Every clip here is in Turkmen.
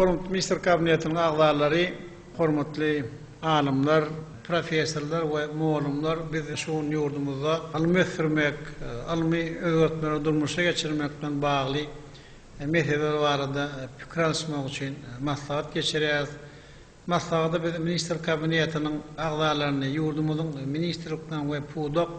Onuň ministr kabinetiniň agzalary, hormatly alymlar, professorlar we mugallymlar biz şu gün ýurdumyzda ylmy ösdürmek, ylmy özgertmeleri durmuşa geçirmek bilen bagly Meseleler barada pikir alyşmak üçin maslahat geçirýäris. Maslahata biz Ministrler Kabinetiniň agzalaryny, ýurdumyzyň ministrlikleriň we pudak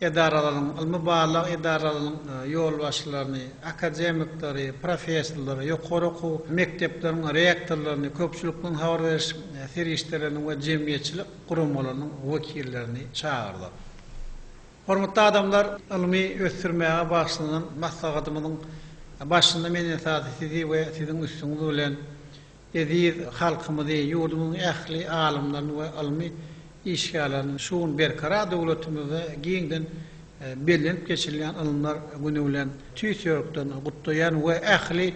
edaralarynyň, ylmy-barlag edaralarynyň ýolbaşçylaryny, akademikleri, professorlary, ýokary okuw mekdepleriň rektorlaryny, köpçülikleýin habar beriş serişdeleriniň we jemgyýetçilik guramalarynyň wekillerini çagyrdyk. Hormatly adamlar, ylmy ösdürmäge bagyşlanan maslahatymyzyň başynda men esasy sizi we siziň üstüňiz bilen eziz halkymyzy, ýurdumyzyň ähli alymlaryny we ylmy işgärlerini şu gün Berkarar döwletimizde giňden bellenip geçirilýän Ylymlar güni bilen tüýs ýürekden gutlaýan we ähli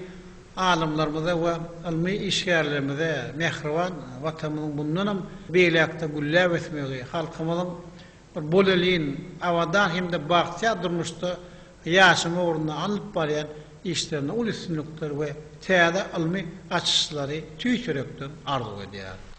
alymlarymyza we ylmy işgärlerimize mähriban Watanymyzyň mundanam beýläkde gülläp ösmegi, halkymyzyň Bir bolelin, abadan hem-de bagtyýar durmuşda ýaşama ugrunda alnyp barýan işlerinde uly üstünlikler we täze ylmy açyşlary tüýs ýürekden arzuw edýärin.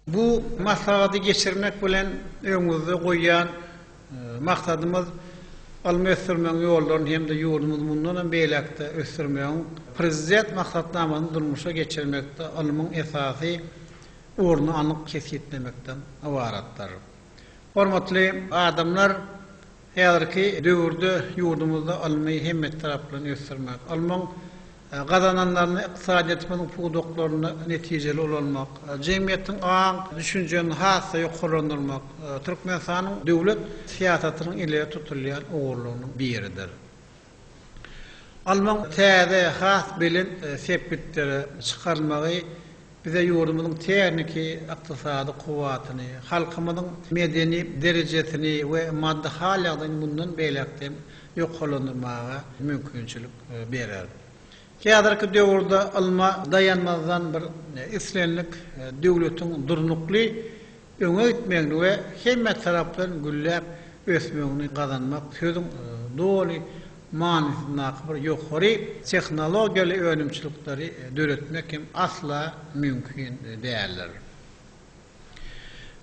Bu maslahaty geçirmek bilen öňümizde goýýan maksadymyz ylmy ösdürmegiň ýollaryny hem-de ýurdumyzy mundan hem beýläk-de ösdürmegiň Prezident maksatnamasyny durmuşa geçirmekde ylmyň esasy ornuny anyk kesgitlemekden ybaratdyr. Hormatly adamlar, häzirki döwürde ýurdumyzda ylmy hemmetaraplaýyn ösdürmek, ylmyň gazananlaryny ykdysadyýetimiziň pudaklarynda netijeli ulanmak, jemgyýetiň aň düşünjeni has-da ýokarlandyrmak Türkmenistanyň döwlet syýasatynyň ileri tutulýan ugurlarynyň biridir. Almaň täze, has belent sepgitlere çykarylmagy Bize ýurdumyzyň tehniki, ykdysady kuwwatyny, halkymyzyň medeni derejesini we maddy hal-ýagdaýyny mundan beýläk-de hem ýokarlandyrmaga mümkinçilik berer. Häzirki döwürde ylma daýanmazdan bir islendik döwletiň durnukly, öňe gitmegini we hemmetaraplaýyn gülläp ösmegini gazanmak sözüň doly manysyndaky bir ýokary tehnologiýaly önümçilikleri döretmek hem asla mümkin däldir.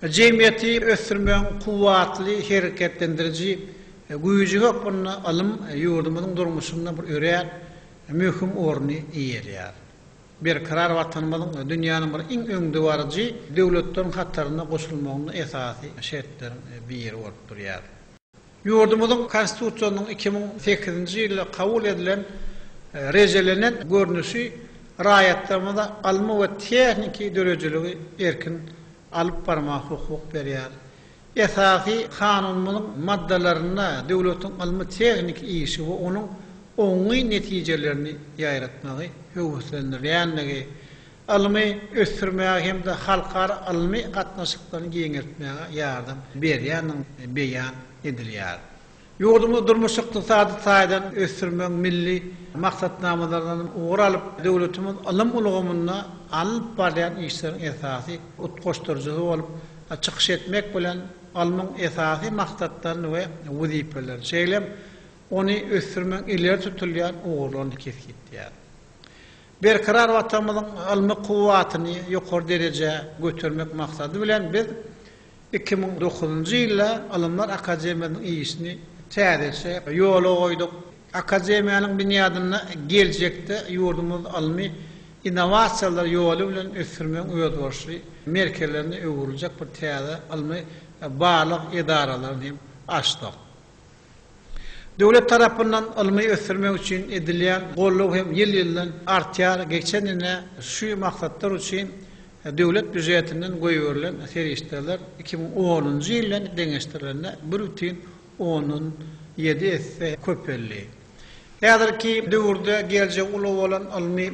Jemgyýeti ösdürmegiň kuwwatly hereketlendiriji güýji hökmünde ylym ýurdumyzyň durmuşynda bir örän möhüm orny eýeleýär. Berkarar Watanymyzyň dünýäniň bir iň öňdebaryjy döwletleriň hataryna goşulmagynda esasy şertleriň biri bolup durýar. Ýurdumyzyň Konstitusiýasynyň iki müň sekizinji ýylda kabul edilen rejelenen görnüşi raýatlarymyza ylmy we tehniki döredijiligi erkin alyp barmaga hukuk berýär. Esasy Kanunymyzyň maddalarynda döwletiň ylmy-tehniki işi we onuň oňyn netijelerini ýaýratmagy höweslendirýändigi, ylmy ösdürmäge hem-de halkara ylmy gatnaşyklaryny giňeltmäge ýardam berýändigini beýan edilýär. Ýurdumyzy durmuş-ykdysady taýdan ösdürmegiň milli maksatnamalaryndan ugur alyp, döwletimiz ylym ulgamynda alnyp barylýan işleriň esasy utgaşdyryjysy bolup çykyş etmek bilen, ylmyň esasy maksatlaryny we wezipelerini, şeýle hem ony ösdürmegiň ileri tutulýan ugurlaryny kesgitleýär. Berkarar Watanymyzyň ylmy kuwwatyny ýokary derejä götermek maksady bilen, biz Iki müň dokuzynjy ýylda Ylymlar akademiýasynyň işini täzeçe ýola goýduk. Akademiýanyň binýadyny geljekde ýurdumyz ylmy innowasiýalar ýoly bilen ösdürmegiň özboluşly merkezlerine öwrüljek bir täze ylmy-barlag edaralaryny hem açdyk. Döwlet tarapyndan ylmy ösdürmek üçin edilýän goldaw hem ýyl-ýyldan artýar, geçen ýene şu maksatlar üçin döwlet býujetinden goýberilen serişdeler iki müň onunjy ýyl bilen deňeşdirilende bir bütin ondan ýedi esse köpeldi. Häzirki döwürde geljegi uly bolan ylmy,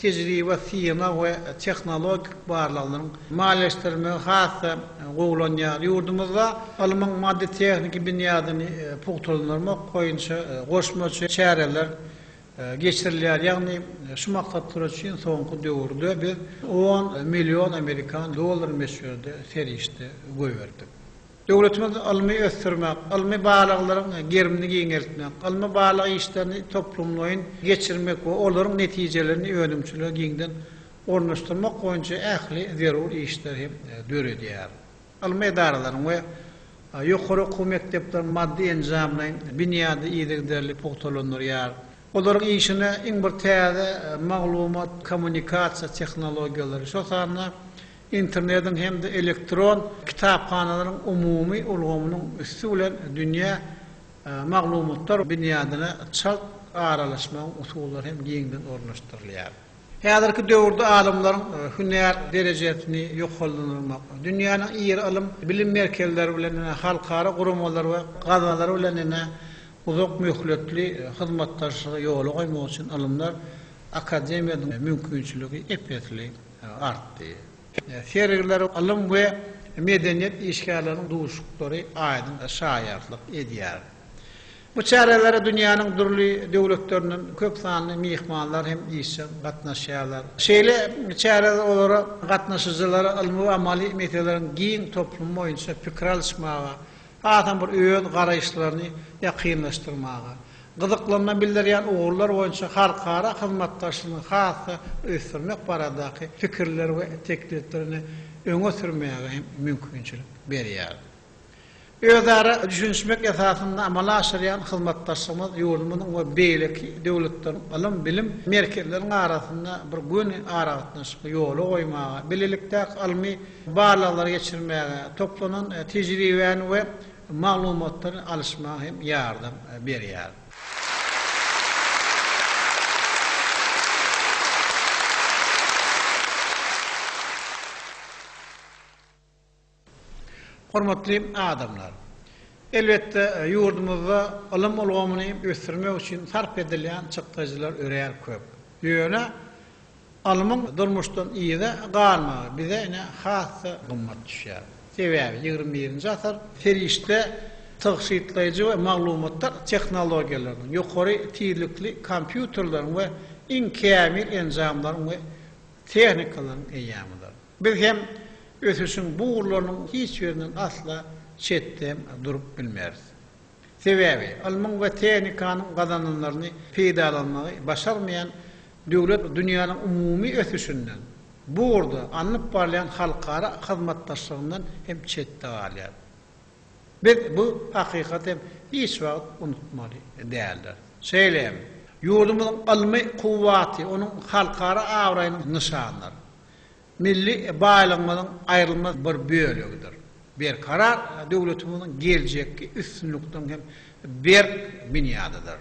tejribe, synag we tehnologik barlaglaryň maliýeleşdirilmegi has-da gowulanýar. Ýurdumyzda ylmyň maddy-tehniki binýadyny pugtalandyrmak boýunça goşmaça çäreler geçirilýär, ýagny şu maksatlar üçin soňky döwürde biz on million amerikan dollary möçberinde serişde goýberdik. Döwletimiz ylmy ösdürmek, ylmy barlaglaryň gerimini giňeltmek, ylmy barlag işlerini toplumlaýyn geçirmek we olaryň netijelerini önümçilige giňden ornaşdyrmak boýunça ähli zerur işleri hem döredýär. Ylmy edaralaryň we ýokary okuw mekdepleriň maddy-enjamlaýyn binýady yzygiderli pugtalandyrýar. Olaryň işine iň bir täze maglumat-kommunikasiýa tehnologiýalary, şol sanda Internetiň hem-de elektron kitaphanalaryň umumy ulgamynyň üsti bilen dünýä maglumatlar binýadyna çalt aralaşmagyň usullary hem giňden ornaşdyrylýar. Häzirki döwürde alymlaryň hünär derejesini ýokarlandyrmak, dünýäniň iri ylym, bilim merkezleri bilen, halkara guramalary we gazalary bilen uzak möhletli hyzmatdaşlygy ýola goýmak üçin ylymlar akademiýasynyň mümkinçiligi ep-esli. artdy. Sergiler ylym we medeniýet işgärleriniň duşuşyklary aýdyň şaýatlyk edýär. Bu çärelere dünýäniň dürli döwletlerinden köp sanly myhmanlar hem işjeň gatnaşýarlar. Şeýle çäreler olara gatnaşyjylara ylmy we amaly meseleleriň giň toplumy boýunça pikir alyşmaga, hasam bir öz garaýyşlaryny ýakynlaşdyrmaga, gyzyklanma bildirýän ugurlar boýunça halkara hyzmatdaşlygyny has-da ösdürmek baradaky pikirleri we tekliplerini öňe sürmäge hem mümkinçilik berýär. Özara düşünişmek esasynda amala aşyrýan hyzmatdaşlygymyz ýurdumyzyň we beýleki döwletleriň ylym-bilim merkezleriniň arasynda bir göni aragatnaşygy ýola goýmaga, bilelikdäki ylmy, barlaglary geçirmäge, toplanan tejribäni we maglumatlary alyşmaga hem ýardam berýär. Hormatly adamlar! Elbetde, ýurdumyzda ylym ulgamyny ösdürmek üçin sarp edilýän çykdajylar örän köp. Ýöne Alymyň durmuşdan yza galmagy bize ine has-da gymmat düşýär. Sebäbi ýigrimi birinji asyr serişde tygşytlaýjy we maglumatlar tehnologiýalarynyň, ýokary tizlikli kompýuterleriň we iň kämil enjamlaryň we tehnikalaryň eýýamydyr. Biz hem ösüşiň bu ugurlarynyň hiç birinden asla çetde durup bilmeris. Sebäbi, ylmyň we tehnikanyň gazananlaryny peýdalanmagy başarmaýan döwlet dünýäniň umumy ösüşinden, bu ugurda alnyp barylýan halkara hyzmatdaşlygyndan hem çetde galýar. Biz bu hakykaty hem hiç wagt unutmaly däldiris. Şeýle hem, ýurdumyzyň ylmy kuwwaty onuň halkara abraýynyň nyşanydyr. milli baýlygymyzyň aýrylmaz bir bölegidir. Berkarar döwletimiziň geljekki üstünlikleriň hem berk binýadydyr.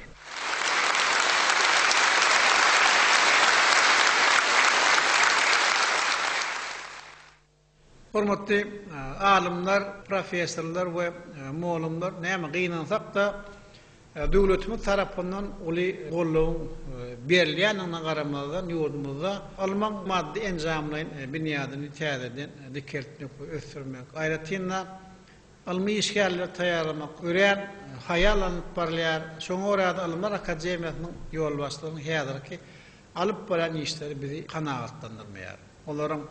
Hormatly alymlar, professorlar we mugallymlar, näme gynansak-da, Döwletimiz tarapyndan uly goldawyň berilýändigine garamazdan, ýurdumyzda ylmyň maddy-enjamlaýyn binýadyny täzeden dikeltmek we ösdürmek, aýratyn-da, ylmy işgärleri taýýarlamak örän haýal alnyp barylýar. Şoňa görä-de, Ylymlar akademiýasynyň ýolbaşçylarynyň häzirki alyp barýan işleri bizi kanagatlandyrmaýar. olaryň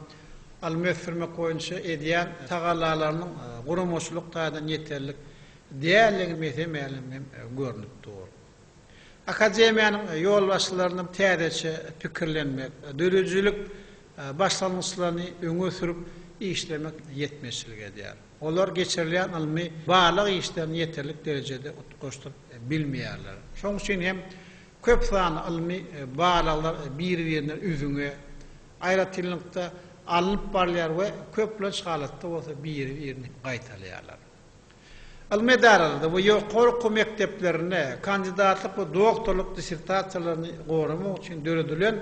alma ösdürmek boýunça edýän tagallalarynyň guramaçylyk taýdan ýeterlik däldigi mese-mälim hem görnüp dur. Akademiýanyň ýolbaşçylarynyň täzeçe pikirlenmek, döredijilik başlangyçlaryny öňe sürüp işlemek ýetmezçilik edýär. Olar geçirilýän ylmy-barlag işlerini ýeterlik derejede utgaşdyryp bilmeýärler. Şonuň üçin hem Köp sanly ylmy barlaglar bir-birine üzňe, aýratynlykda, alnyp barylýar we köplenç halatda bolsa biri-birini gaýtalaýarlar. Ylmy edaralarda we ýokary okuw mekdeplerinde kandidatlyk we doktorlyk dissertasiýalaryny goramak üçin döredilen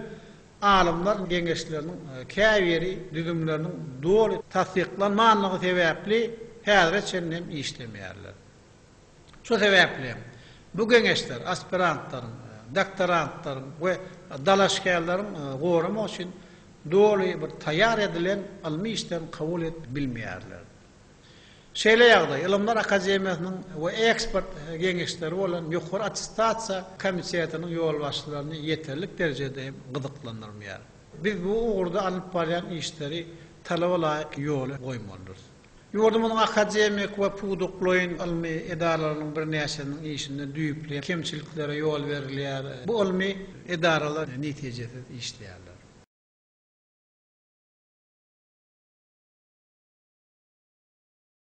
alymlar geňeşleriniň käbiri düzümleriniň doly tassyklanmanlygy sebäpli häzire çenli hem işlemeýärler. Şu sebäpli hem, bu geňeşler aspirantlaryň, doktorantlaryň we dalaşgärleriň goramak üçin doly bir taýýar edilen ylmy işden kabul et bilmeýärler. Şeýle ýagdaý Ylymlar akademiýasynyň we ekspert geňeşleri bolan Ýokary attestasiýa komitetiniň ýolbaşçylaryny ýeterlik derejede hem gyzyklandyrmaýar. Biz bu ugurda alnyp barýan işleri talaba laýyk ýola goýmalydyrys. Ýurdumyzyň akademik we pudaklaýyn ylmy edaralarynyň birnäçesiniň işinde düýpli kemçiliklere ýol berilýär. Bu ylmy edaralar netijesiz işleýärler.